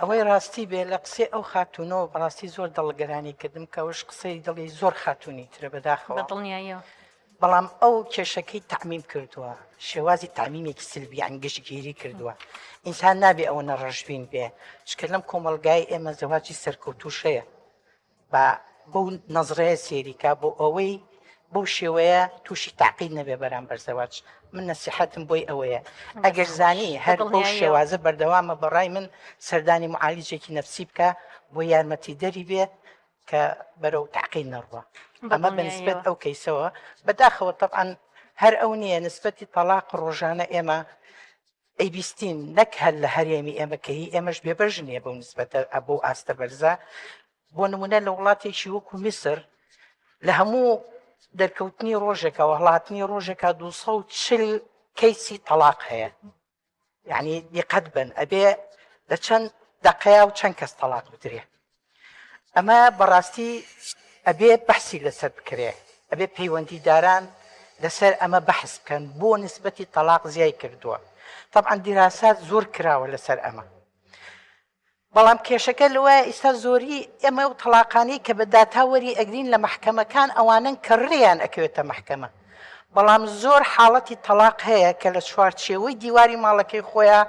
ئەوەی ڕاستی بێ لە قسەی ئەو خاتونەوە بەڕاستی زۆر دڵ گەرانی کردم کەوش قسەی دڵی زۆر خاتونی ترە بەداخەوە بەدڵنیاییەوە بەڵام ئەو کێشەکەی تەعمیم کردووە شێوازی تامیمێکی سلبیان گشتگیری کردووە ئینسان نابێ ئەوە نەڕژبین بێ شکە لەم کۆمەلگای ئێمە زەواجی سەرکەوتوشەیە با بەو نەزرەیە سێریکا بۆ ئەوەی بەو شێوەیە تووشی تاقیل نەبێ بەرامبەر زەواج من نەسیحەتم بۆی ئەوەیە ئەگەر زانی هەر بەو شێوازە بەردەوامە بەڕای من سەردانی معالیجێکی نەفسی بکە بۆ یارمەتی دەری بێ کە بەرەو تاقیل نەڕوە ئەمە بەنسبەت ئەو کەیسەوە بەداخەوە طبعاان هەر ئەو نییە نسبەتی تەلاق ڕۆژانە ئێمە ئەیبیستین نەک هەر لە هەرێمی ئێمە کە هی ئێمەش بێبەژ نیە بەو نسبەتە ئەبوو ئاستە بەرزە بۆ نمونە لە وڵاتێکی وەکو میسر لە هەموو دەرکەوتنی ڕۆژێکەوە هەڵاتنی ڕۆژێکا 240 کەیسی تەلاق هەیە یعنی دیقەت بن ئەبێ لە چەند دەقەیە و چەند کەس تەلاق بدرێ ئەمە بەڕاستی ئەبێ بەحسی لەسەر بکرێ ئەبێ پەیوەندیداران لەسەر ئەمە بەحس بکەن بۆ نسبەتی تەلاق زیای کردووە طبعا دیراسات زۆر کراوە لەسەر ئەمە بەڵام کێشەکە لەوە ئیستا زۆری ئەمە و تەلاقانی کە بە داتاوەری ئەگرین لە محکەمەکان ئەوانن کە ڕێیان ئەکەوێتە محکەمە بەڵام زۆر حاڵەتی تەلاق هەیە کە لە چوارچێوەی دیواری ماڵەکەی خۆیان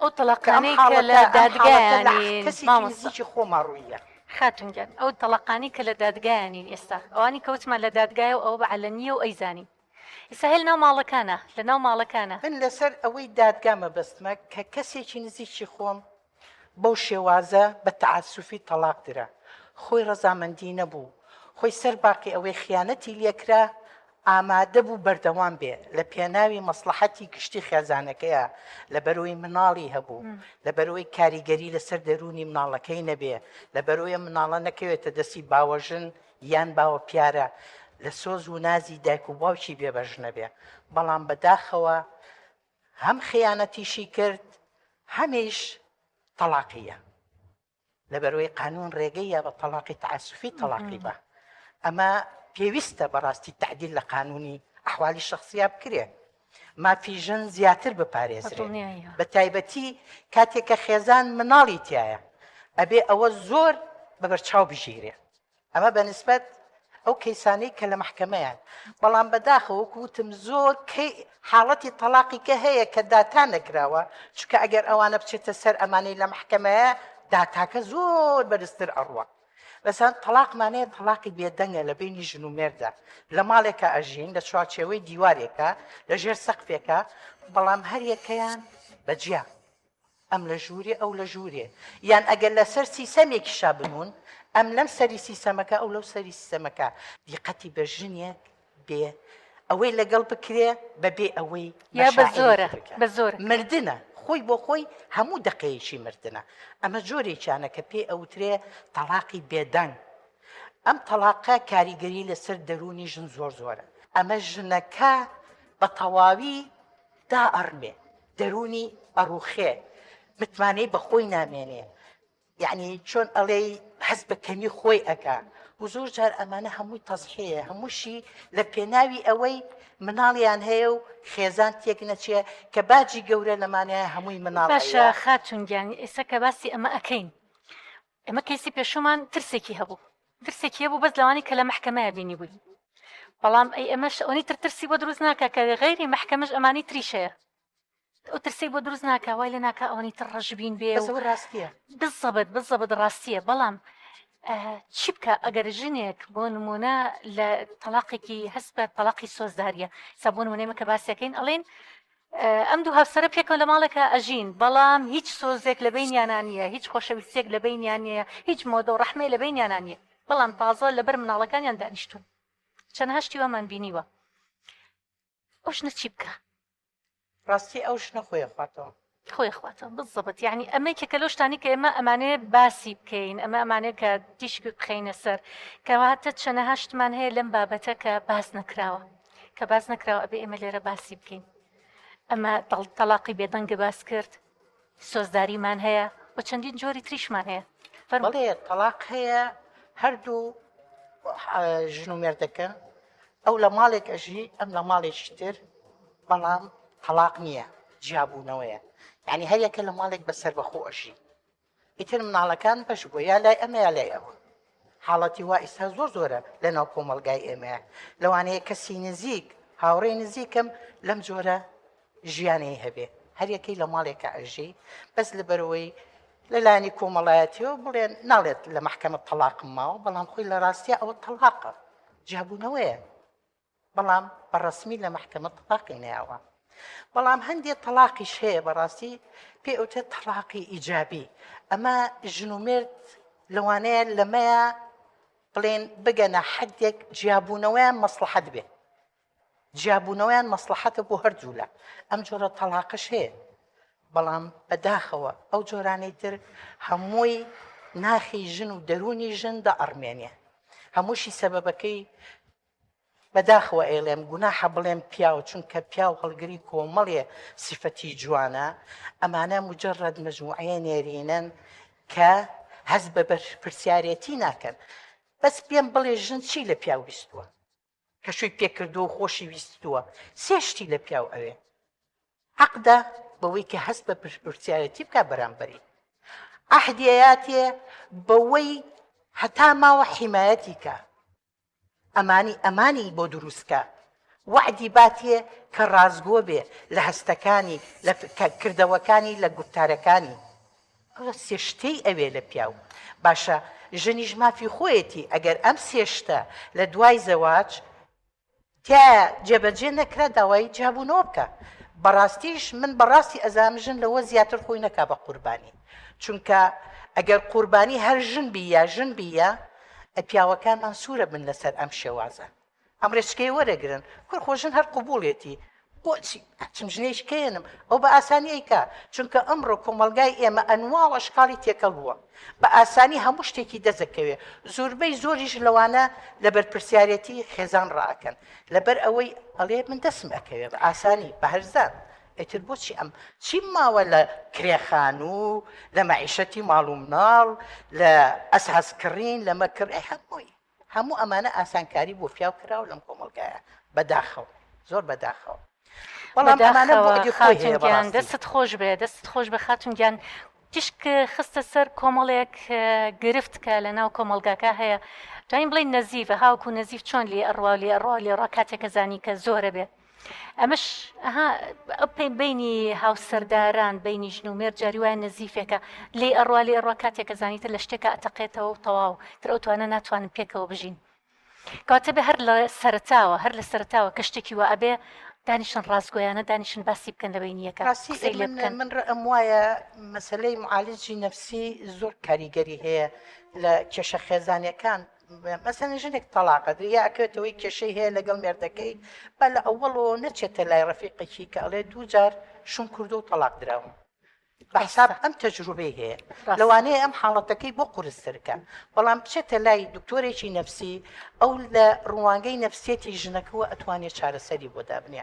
ئەو تەڵەقانەی کە لە دادگایان نین مامۆستا. خاتون گیان ئەو تەڵەقانەی کە لە دادگایان نین ئێستا ئەوانی کە وتمان لە دادگایە و ئەوە بە عەلەنییە و ئەیزانین ئیستا هێل ناو ماڵەکانە لە ناو ماڵەکانە. من لەسەر ئەوەی دادگا مەبەستمە کە کەسێکی نزیکی خۆم بەو شێوازە بە تەعەسوفی تەڵاق درا خۆی ڕەزامەندی نەبوو خۆی سەر باقی ئەوەی خیانەتی لێکرا ئامادەبوو بەردەوام بێ لە پێناوی مەسڵەحەتی گشتی خێزانەکەیا، لەبەرئەوەی مناڵی هەبوو، لەبەرئەوەی کاریگەری لەسەر دەروونی مناڵەکەی نەبێ، لەبەرئەوەی مناڵە نەکەوێتە دەستی باوەژن یان باوەپیارە لە سۆز ونازی دایک و باوکی بێبەش نەبێ، بەڵام بەداخەوە هەم خیانەتیشی کرد هەمیش تەڵاقی یە. لەبەروەی قانون ڕێگەی یا بە تەڵاقی تعسفی تەڵاقی بە ئەمە پێویستە بەڕاستی تعدیل لە قانونی ئەحوالی شخصیا بکرێ مافی ژن زیاتر بپارێزرێ بە تایبەتی کاتێکە خێزان مناڵی تایە ئەبێ ئەوە زۆر بەبەرچاو بژیرێ ئەمە بە نسبەت ئەو کەیسانەی کە لە مەحکەمەیان بەڵام بەداخە وەکو وتم زۆر کەی حاڵەتی تەلاقی کە هەیە کە داتا نەکراوە چکە ئەگەر ئەوانە بچێتە سەر ئەمانەی لە مەحکەمەیە داتاکە زۆر بەرزتر ئەڕوە بەسان تەلاقمانەیە تەلاقی بێدەنگە لە بینی ژن و مێردا لە ماڵێکە ئەژین لە چوارچێوەی دیوارێکە لە ژێر سەقفێکە بەڵام هەریەکەیان بەجیا ئەم لە ژوورێ ئەو لە ژوورێ یان ئەگەر لەسەر سیسەمێکی شا بنون ئەم لەم سەری سیسەمەکە ئەو لەو سەری سیسەمەکە دیقەتی بە ژنێک بێ ئەوەی لەگەڵ بکرێ بەبێ ئەوەی یا بە زۆرە بە زۆر مردە خۆی بۆ خۆی هەموو دقەیەکی مردە ئەمە جۆرێکیانە کە پێی ئەوترێ تەلاقی بێدەنگ ئەم تەلاقە کاریگەری لەسەر دەرونی ژن زۆر زۆرە ئەمە ژنەکە بە تەواوی دائەڕمێ دەروونی ئەڕوخێ متمانەی بەخۆی نامێنێ یعنی چۆن ئەڵێی حەز بە کەمی خۆی ئەکا و زۆر جار ئەمانە هەمووی تەزحەیە هەمووشی لە پێناوی ئەوەی مناڵیان هەیە و خێزان تێک نەچێ کە باجی گەورە لەمانەیە هەمووی مناڵ باشە خاتونگیان ئێستا کە باسی ئەمە ئەەکەین ئێمە کەیسی پێشوومان ترسێکی هەبوو ترسێکی هەبوو بەس لەوانی کە لە مەحکەمەیە بینی بووی بەڵام ئەی ئەمەش ئەوەی تر ترسی بۆ دروست ناکە کە غیری مەحکەمەش ئەمانی تریشەیە ئەو ترسی بۆ دروست ناکە وای لە ناکە ئەوەی تر ڕژبین بێ ڕاستە بزەبت بزەبت ڕاستیە بەڵام چی بکە ئەگەر ژنێک بۆ نمونە لە تەلاقێکی هەست بە تەلاقی سۆزداریە سەبوون منێمە کە باسیەکەین ئەڵێن ئەم دوو هاوسەرە پێکەوە لە ماڵێکا ئەژین، بەڵام هیچ سۆزێک لە بەینیانا نییە، هیچ خۆشەویستییەک لە بەینیان نییە، هیچ مۆدە و ڕەحمێ لە بەینیانا نییە، بەڵام تازە لەبەر مناڵەکانیان دانیشتوون. چەندەها شتی وامان بینیوە. ئەو ژنە چی بکا؟ ڕاستی ئەو ژنە خۆی ئەخواتەوە. خۆی ئەخواتەوە بالضبط، یەعنی ئەمە یەکێکە لەو شتانەی کە ئێمە ئەمانەوێ باسی بکەین، ئەمە ئەمانەوێ کە تیشک بخەینە سەر، کەواتە چەندەها شتمان هەیە لەم بابەتە کە باس نەکراوە. کە باس نەکراوە ئەبێ ئێمە لێرە باسی بکەین ئەمە تەلاقی بێدەنگە باس کرد سۆزداریمان هەیە و چەندین جۆری تریشمان هەیە فەرمڵێ تەلاق هەیە هەردوو ژن و مێردەکە ئەو لە ماڵێک ئەژی ئەم لە ماڵێکی تر بەڵام تەلاق نییە جیابوونەوەیە یعنی هەریەکە لە ماڵێک بەسەر بەخۆ ئەژی ئیتر مناڵەکان بەش بووە یا لای ئەمە یا لای ئەوە حاڵەتی وا ئیستا زۆر زۆرە لە ناو کۆمەلگای ئێمە لەوانەیە کەسی نزیک هاوڕێ نزیکم لەم جۆرە ژیانی هەبێ هەریەکەی لە ماڵێکە ئەژی بەس لە بەرەوەی لەلانی کۆمەڵایەتیەوە بڵێن ناڵێت لە محکەمە تەلاقم ماوە بەڵام خۆی لە ڕاستە ئەوە تەلاقە جیابوونەوەیە بەڵام بە ڕەسمی لە مەحکەمە تەڵاقی نەیاوە بەڵام هەندێک تەڵاقیش هەیە بەڕاستی پێ ئەوتێ تەڵاقی ئیجابی ئەمە ژن و مرد لەوانەیە لەمەیە بڵێن بگەنە حدێک جیابوونەوەیان مەسلحەت بێت جیابوونەوەیان مەسلحەتە بۆ هەردوولا ئەم جۆرە تەڵاقش هەیە بەڵام بەداخەوە ئەو جۆرانەی تر هەمووی ناخی ژن و دەرونی ژن دە ئەڕمێنێ هەمووشی سەبەبەکەی بەداخەوە ئەیڵێم گوناحە بڵێم پیاو چونکە پیاو هەڵگری کۆمەڵێ سیفەتی جوانە ئەمانە مجرد مجموعەیە نێرینەن کە هەست بە بەرپرسیارێتی ناکەن بەس پێم بڵێ ژن چی لە پیاو ویستووە کە شووی پێکردووە و خۆشی ویستووە سێ شتی لە پیاو ئەوێ حەقدا بەوەی کە هەست بە پرسیارەتی بکە بەرامبەری ئەحدیاتێ بەوەی هەتا ماوە حیمایەتی کە ئەمانی ئەمانی بۆ دروست کە. وەعدی باتێ کە ڕاستگۆ بێ لە هەستەکانی، لە کردەوەکانی، لە گوفتارەکانی. ئەوە سێ شتەی ئەوێ لە پیاو. باشە ژنیش مافی خۆیەتی ئەگەر ئەم سێ شتە لە دوای زەواج. تیایا جێبەجێ نەکرا داوای جیابوونەوە بکا بەڕاستیش من بەڕاستی ئەزانم ژن لەوە زیاتر خۆی نەکا بە قوربانی چونکە ئەگەر قوربانی هەر ژن بی یا ژن بی یا پیاوەکانمان سوورە بن لەسەر ئەم شێوازە ئەم ڕێچکەیە وەرەگرن کورخۆ ژن هەر قبوڵێتی بۆچی ئەچم ژنێش کێنم ئەو بە ئاسانی ئەیکا چونکە ئەمڕۆ کۆمەڵگای ئێمە ئەنواع و ئەشکاڵی تێکەڵ بووە بە ئاسانی هەموو شتێکی دەزەکەوێ زۆربەی زۆریش لەوانە لە بەرپرسیارەتی خێزان ڕائەکەن لەبەر ئەوەی ئەڵێ من دەسم ئەکەوێ بە ئاسانی بە هەرزان ئیتر بۆچی ئەم چیم ماوە لە کرێخان و لە مەعیشەتی ماڵ و مناڵ لە ئەسهاز کڕین لەمە کڕێ هەمووی هەموو ئەمانە ئاسانکاری بۆ پیاو کراو لەم کۆمەڵگایە بەداخەوە زۆر بەداخەوە بەڵام ئەمانە بۆ ئەگەر خۆی هەیە بەڵام دەست خۆش بێ دەست خۆش بە خاتون گیان تیشک خستە سەر کۆمەڵێک گرفت کە لە ناو کۆمەلگاکە هەیە جاین بڵین نەزیڤە هاوکو نەزیف چۆن لێ ئەڕوا لێ ئەڕوا لێڕا کاتێکە زانی کە زۆرە بێت ئەمەش ئەها ئەپێن بینی هاوسەرداران بینی ژن و مێر جاری وایە نەزیفێکە لێ ئەڕوا لێ ڕوا کاتێکە زانیتە لە شتێکە ئەتەقێتەوە و تەواو تر ئەو توانە ناتوانن پێکەوە بژین کاتە بێ هەر لە سەرتاوە هەر لە سەرتاوە کە شتێکی وە ئەبێ دانیشن ڕاستگویانە دانیشن باسی بکەن لە بینیەکە قسی لێ بکەن من ڕم وایە مەسلەی معالجی نفسی زۆر کاریگەری هەیە لە کێشە خێزانەکان مەسەلەن ژنێک تەڵاقە دریا ئەکەوێتە ئەوەی کێشەی هەیە لەگەڵ مێردەکەی با لە ئەوەڵەوە نەچێتە لای ڕەفیقێکی کە ئەڵێ دوو جار شوم کردو و تەلاق دراوم بەحساب ئەم تەجروبەی هەیە لەوانەیە ئەم حاڵەتەکەی بۆ قورسترکە بەڵام بچێتە لای دکتۆرێکی نەفسی ئەو لە ڕوانگەی نەفسیەتی ژنەکەەوە ئەتوانێت چارەسەری بۆ دابنێ